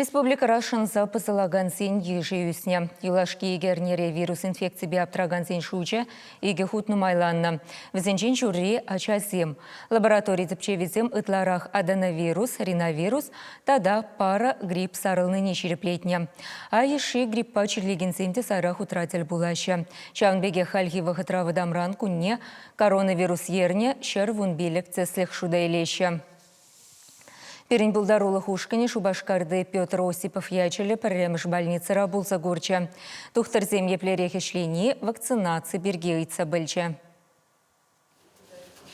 Республикӑра шӑнса пӑсӑлакансен йышӗ ӳснӗ. Юлашки икӗ эрнере вирус инфекципе аптракансен шучӗ икӗ хут нумайланнӑ. Вӗсенчен ҫурри – ачасем. Лаборатори тӗпчевӗсем ытларах аденовирус, риновирус тата пара грипп сарӑлнине ҫирӗплетнӗ. А йышши гриппа чирлекенсем те сайра хутра тӗл пулаҫҫӗ. Ҫавӑн пекех хальхи вӑхӑтра вӑтамран кунне коронавирус ернӗ ҫӗр вун пилӗк тӗслӗх шута илеҫҫӗ. Пирӗн пултарулӑх ушкӑнӗ Шупашкарти Петр Осипов ячӗллӗ пӗрремӗш больницӑра пулса курчӗ. Тухтӑрсем еплерех ӗҫлени вакцинаци пирки ыйтса пӗлчӗ.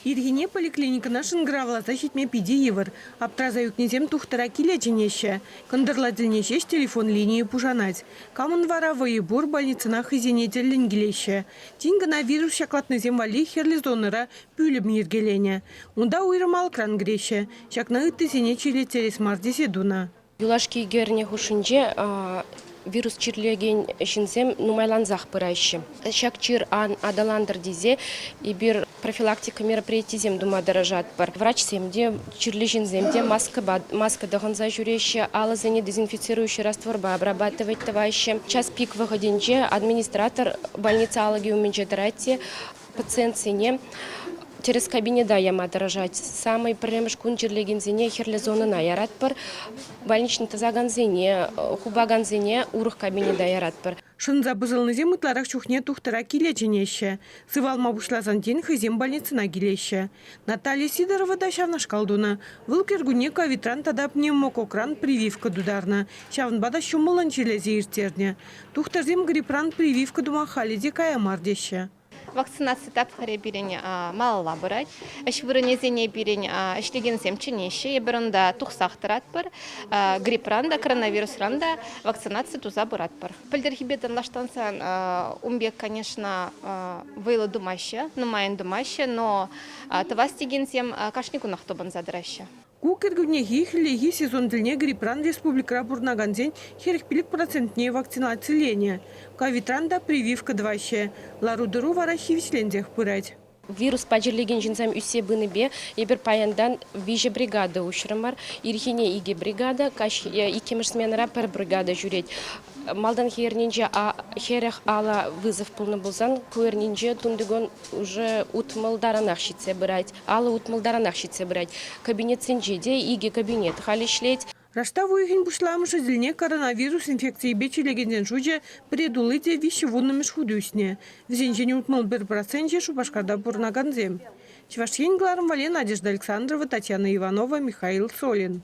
Ирхине поликлиникӑна шӑнкӑравласа ҫитме питӗ йывӑр. Аптраса ӳкнисем тухтӑра киле чӗнеҫҫӗ. Кӑнтӑрла тӗлне ҫеҫ телефон линийӗ пушанать. Камӑн вара вӑйӗ пур, больницӑна хӑйсене тӗллӗн килеҫҫӗ. Тин кӑна вирус ҫаклатнисем валли хӗрлӗ зонӑра Пӳлӗм йӗркеленӗ. Унта уйрӑм алӑкран кӗреҫҫӗ. Ҫакна ыттисене чирлеттерес мар тесе тунӑ. Юлашки эрне хушшинче вирус чирлекен ҫынсем нумайлансах пыраҫҫӗ. Ҫак чир ан аталантӑр тесе эпир профилактика мероприятийӗсем тума тӑрӑшатпӑр. Врачсем те, чирлӗ ҫынсем те маскӑпа тӑхӑнса ҫӳреҫҫӗ, алӑсене дезинфицирующий растворпа обрабатывать тӑваҫҫӗ. Час пик вӑхӑтӗнче администратор больница алӑкӗ умӗнче тӑрать те Пациентсене тӗрӗс кабинета яма тӑрӑшать. Самый пӗрремӗш кун чирлекенсене хӗрлӗ зонӑна яратпӑр. Больничный тӑсакансене, хупакансене урӑх кабинета яратпӑр. Шӑнса пӑсӑлнисем ытларах чухне тухтӑра киле чӗнеҫҫӗ. Сывалма пуҫласан тин хӑйсем больницӑна килеҫҫӗ. Наталья Сидорова та ҫавнашкал тунӑ. Вӑл кӗркунне ковидран тата пневмококкран прививка тутарнӑ. Ҫавӑнпа та ҫумӑллӑн чирлесе ирттернӗ. Тухтӑрсем грипран прививка тума халӗ те кая мар теҫҫӗ. Вакцинаци тапхӑрӗ пирӗн малалла пырать. Ӗҫ вырӑнӗсене пирӗн ӗҫлекенсем чӗнеҫҫӗ. Эпир унта тухсах тӑратпӑр. Грипран та, коронавирусран та вакцинаци туса пыратпӑр. Пӗлтӗрхипе танлаштарсан ун пек, конечно, вӑйлӑ тумаҫҫӗ, нумайӑн тумаҫҫӗ, но тӑвас текенсем кашни кунах тупӑнса тӑраҫҫӗ. Ку кӗркуннехи хӗллехи сезон тӗлне грипран республикӑра пурӑнакансен хӗрӗх-пилӗк процентне вакцинациленӗ, ковидран та прививка тӑваҫҫӗ. Лару-тӑру вара хивӗҫленсех пырать. Вируспа чирлекен ҫынсем ӳссе пынипе эпир паянтан виҫӗ бригада уҫрӑмӑр. Ирхине икӗ бригада, каҫ иккӗмӗш сменӑра пӗр бригада ҫӳрет. Малтанхи эрнинче хӗрӗх алӑ вызов пулнӑ пулсан, ку эрнинче тунтикун уже утмӑлтаранах ҫитсе пырать. Алӑ утмӑлтаранах ҫитсе пырать. Кабинетсенче те икӗ кабинет халь ӗҫлет. Раштав уйӑхӗн пуҫламӑшӗ тӗлне коронавирус инфекцийӗпе чирлекенсен шучӗ пӗре тулли те виҫҫӗ вуннӑмӗш хут ӳснӗ. Вӗсенчен утмӑл пӗр проценчӗ Шупашкарта пурӑнакансем. Чӑваш Ен кӑларӑмвӗле Надежда Александрова, Татьяна Иванова, Михаил Солин.